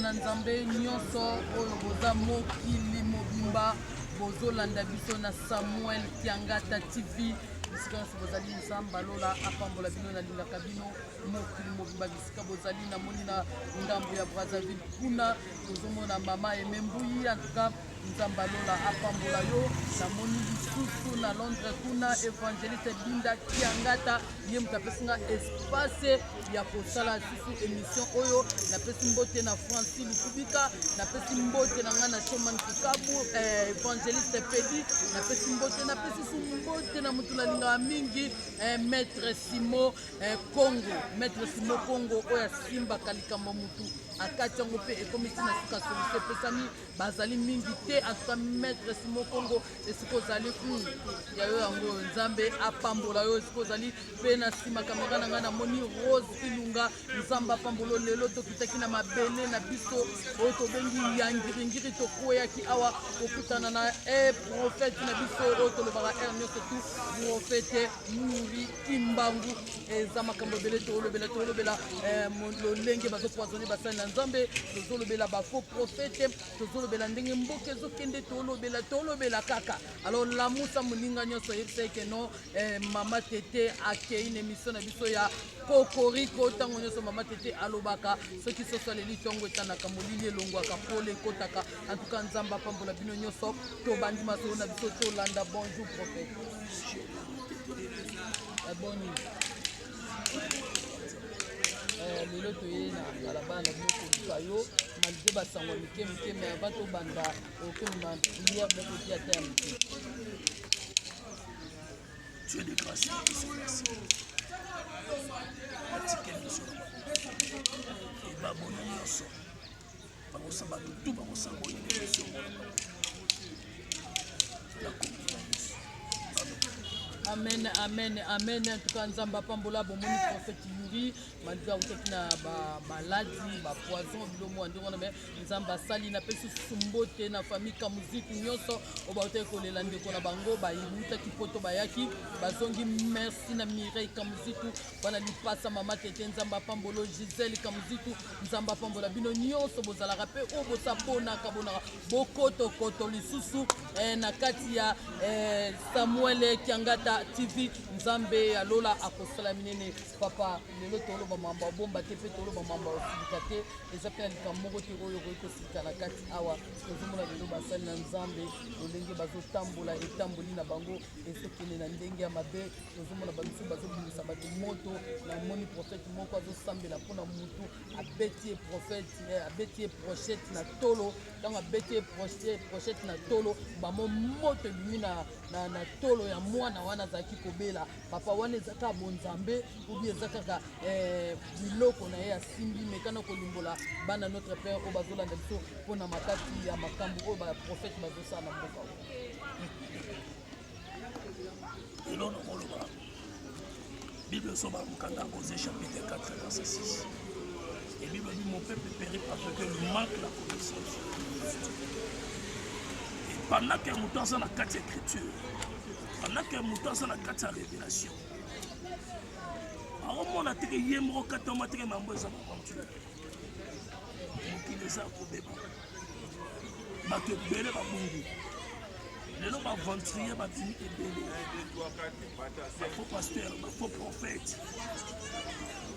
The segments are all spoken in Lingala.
na nzambe nyonso oyo boza mokili mobimba bozolanda biso na samuel kiangata tv bisika nyonso bozali nzambe alola apambola bino nalingaka bino mokili mobimba bisika bozali namoni na ngambo ya brazzaville kuna tozomona mama emembuyi antuka Nzambe ya lola apambola yo. Namoni lisusu na Londres kuna Evangeliste Binda Kiangata, ye moto apesi nga espace ya kosala lisusu emission oyo. Napesi mbote na Franci Lukubika, napesi mbote na nga na Shoman Kikabu, eh, Evangeliste Pedi, napesi mbote, napesi su mbote na moto nalingaka mingi eh, Maître Simo eh, Congo, Maître Simo Congo oyo asimbaka likambo motu akati yango mpe ekomisi na suka solution epesami bazali mingi te atuka maître simo kongo esika ozali hmm, ya yo yango nzambe apambola yo esika ozali mpe na nsima kamera na ngai namoni rose ilunga nzambe apambolo lelo tokitaki na mabele na biso oyo tobengi ya ngiringiri tokweyaki awa kokutana na e eh, profete na biso oyo tolobaka r nyonso tu profete muri kimbangu eza makambo ebele tolobela tolobela eh, lolenge bazopoisone basali na nzambe tozolobela bafaux prophète tozolobela ndenge mboka ezokende tolobela tolobela kaka alors lamusa moninga nyonso ayebisa eke no eh, mama tete akei na émission na biso ya kokoriko ntango nyonso mama tete alobaka soki soso aleli ntongo etanaka molili elongwaka pole ekotaka antuka nzambe apambola bino nyonso tobandi masolo na biso tolanda bonjour prophète aboni eh, lelo toye na balabala na bino koluka yo malgre basango ya mike mike me ava tobanda okoma priere bokoki ata ya mike Dieu de grâce, il se place. Atikeli biso. Ebaboni nyonso. amen amen amen en tout cas nzambe apambola bomoni prophète yuri malgré autaki na bamaladi bapoison bilomo ya ndenge wana me nzambe asali napesi susu mbote na famille kamuziki nyonso oyo bautaki kolela ndeko na bango bautaki poto bayaki bazongi merci na mireille kamuzitu bana lipasa mama tete nzambe apambolo gisele kamuzitu nzambe apambola bino nyonso bozalaka mpe oyo bosaponaka bonaka bokotokoto lisusu eh, na kati ya eh, samuel kiangata tv nzambe ya lola akosala minene papa lelo toloba mambo abomba te mpe toloba mambo aosilika te eza mpe na likambo moko te oyo okoki kosilika na kati awa tozomona lelo basali na nzambe lolenge bazotambola etamboli na bango ezokende na ndenge ya mabe tozomona bamisusu bazobimisa bato moto namoni profete moko azosambela mpo na motu abeti ye profete eh, abeti ye prochete na tolo ntango abeti ye prochete na tolo bamo moto ebimi na, na, na tolo ya mwana wana azalaki kobela papa wana eza kaka bonzambe obi eza kaka eh, biloko na ye asimbi mekana kolimbola bana notre père oyo bazolanda biso mpo na makasi ya makambo oyo baprofete bazosala na mboka oyo eloko nakoloba bible esoba mokanda kose chapitre 4 verset 6 et bible dit mon peuple périt parce que le manque la connaissance et pendant que moto aza na kati ya écriture pendant que moto aza na kati ya révélation aomona teke ye moko katama teke mambo eza maventure mokili eza kobeba bato ebele babungi lelo baaventurier babimi ebele bafaux pasteur bafaux prophète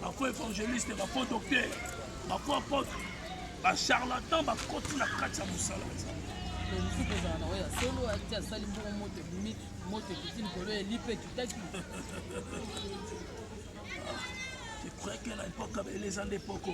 bafaux évangéliste bafaux docteur bafaux apôtre bacharlatan bakoti na kati ya mosala ya nzambe mosusu kozala na oyo ya solo ati asali mbongo moto ebimi moto ekiti likolo eli mpe tutaki epreke na epoka beleza nde poko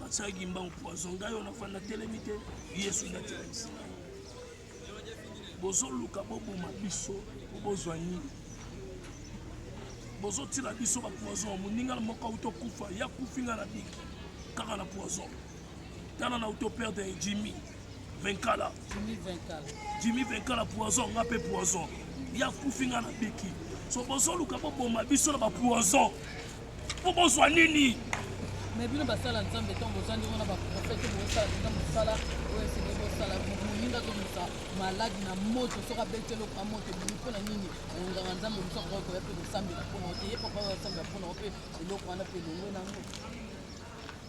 basaki mbangu poison ngai oyo nafanda telemi te yesu nde atelemisi ngai bozoluka boboma biso po bozwa nini bozotila biso bapoison moninga na moko auti okufa ya kufi ngai na biki kaka na poison tala na auti operde jimi Venkala. Jimmy Venkala. Jimmy Venkala poison nga pe poison. Ya kufi nga na biki. So bozo luka bo boma biso na ba poison. Po bozwa nini? Mais bino basala nzambe to boza ndenge na ba prophète bo sala ndenge mosala oyo sebe bo sala muninga to musa malade na moto soka betelo ka moto bini pona nini nganga nzambe musa ko ko ya pe ko sambela pona te ye papa ya sambela pona pe eloko wana pe longo na ngo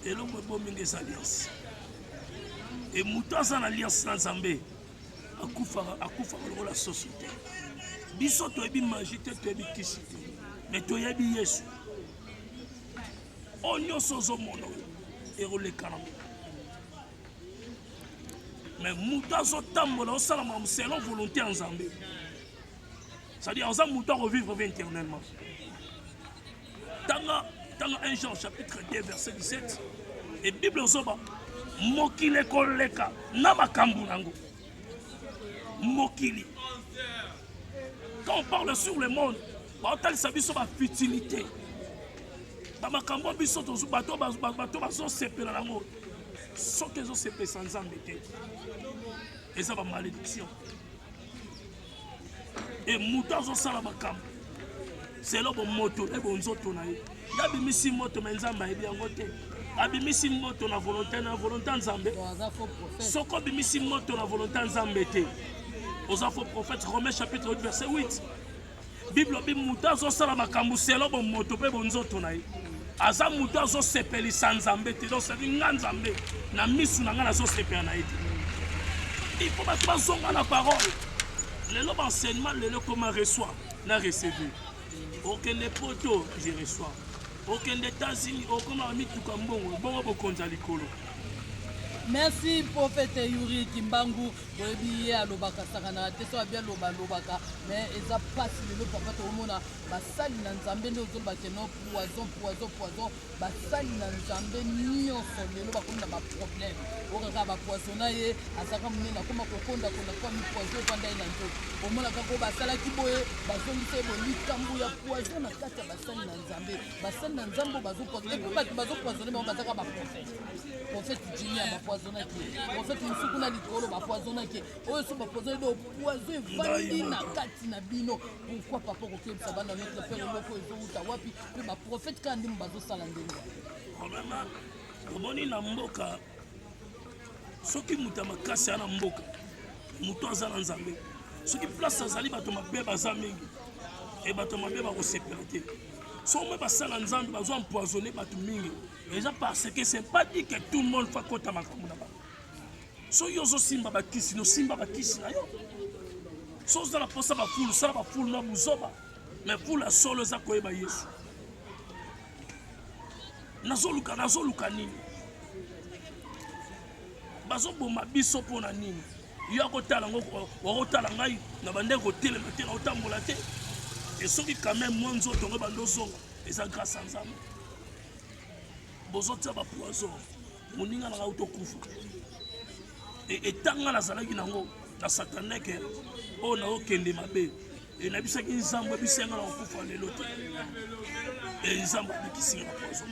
elongo ebomi nde eza alliance e moto aza na alliance na nzambe akufaka akufaka lokola soso te biso toyebi maji te toyebi kisi te me toyebi yesu oyo nyonso ozomona oyo ekolekana me moto azotambola osala makambo selon volonté ya nzambe c'est-à-dire oza moto akovivre ve éternellement tanga tanga 1 jean chapitre 2 verset 17 e bible ozoba mokili ekoleka na makambo nango mokili quand on parle sur le monde baotalisa biso bafutilité bamakambo biso bato bazosepela nango soki ezosepesa nzambe te eza bamalédiction e moto azosala makambo selo bomoto na bonzoto na ye ye abimisi moto me nzambe ayebi yango te abimisi moto na volonte na volonte ya nzambe soki obimisi moto na volonte ya nzambe te oza faux prophète romain chapitre 8 verset 8 Bible lobi moto azosala makambo selo bomoto mpe bonzoto na ye aza moto azosepelisa nzambe te donc sadi nga nzambe na misu na nga nazosepela na ye te il faut bato bazonga na parole lelo baenseignement lelo ekoma reçoit na receve okende poto je reçois okende états-unis okoma bamituka mbongo bongo bokonzi ya likolo merci profete yuri kimbangu boyebi ye alobaka sakanaka te soki abi aloba alobaka mais eza mpasi lelo papa tokomona basali na nzambe nde ozoloba keno poison poison poison basali na nzambe nyonso lelo bakomi na baproblème okaka bapoisona ye azalaka monene akoma kokonda konda kwa mipoison efanda ye na nzoto omonaka ko basalaki boye bazongisa ye boye likambo ya poison na kati ya basali na nzambe basali na nzambe oyo bazopoisone epe bato bazopoisone bango bazalaka baprofete profete jimia bapoisonaki profete mosusu kuna likolo bapoisonaki oyo so bapoisoni do poison evandi na kati na bino pourkui papa okokebisa bana notre pere moko ezowuta wapi mpe baprofete kaka ndimo bazosala ndenge problema omoni na mboka soki moto ya makasi ya na mboka moto aza na nzambe soki place azali bato mabe baza mingi e bato mabe bakosepela te soki omoi basala nzambe bazwa empoisonne bato mingi eza parce que c'est pas dit que tout le monde faut akota makambo na bango so yo ozosimba bakisi nosimba bakisi na yo so oza na mposa bafulu sala bafulu na buzoba me fulu ya solo eza koyeba yesu nazoluka nazoluka nini bazoboma biso mpo na nini yo akotala ngo wakotala ngai na bandenge kotelema te na kotambola te esoki quand même mwa nzoto ngo bandozonga eza grâce ya nzambe bozotia ba poison moninga nanga auto kufa e, etanga nazalaki nango na sataneke oyo oh, naokende mabe e, nabisaki nzambo ebisenga na kokufa lelo te e, nzambo abikisinga na poison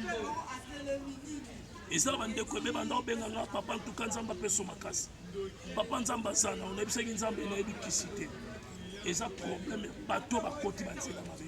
eza bandeko ebe banda obenga nga papa ntuka nzambe apeso makasi papa nzambe aza na onayebisaki nzambe nayebi kisi te eza probleme bato bakoti banzela mabe